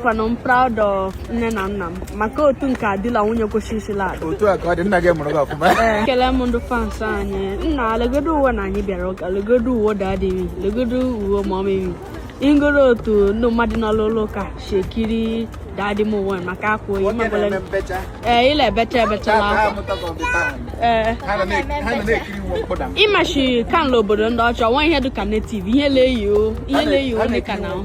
I'm proud of nne na nna m maka otu nke adịla nwunye kwesịrịsịla ala otu a ka ọ dị nna gị mụrụ gị ọfụma ekele m ndị fans anyị nna legodu uwe na anyị bịara ụka legodu uwe daddy m legodu uwe mummy m ị hụgoro otu ndị mmadụ nọ n'ụlọ ụka si ekiri daddy m uwe maka akwa o yi Nwoke mebele na-eme mbecha ee ịla ebecha ebechala Nke a akwa bụ amụta ka ọ dị taa. ee Ha nọ na- ha nọ na-ekiri iwu mkpụda ị ma shị ka n'ala obodo ndị ọcha nwa ihe dịka native ihe leyi o ihe leyi o dịka na o.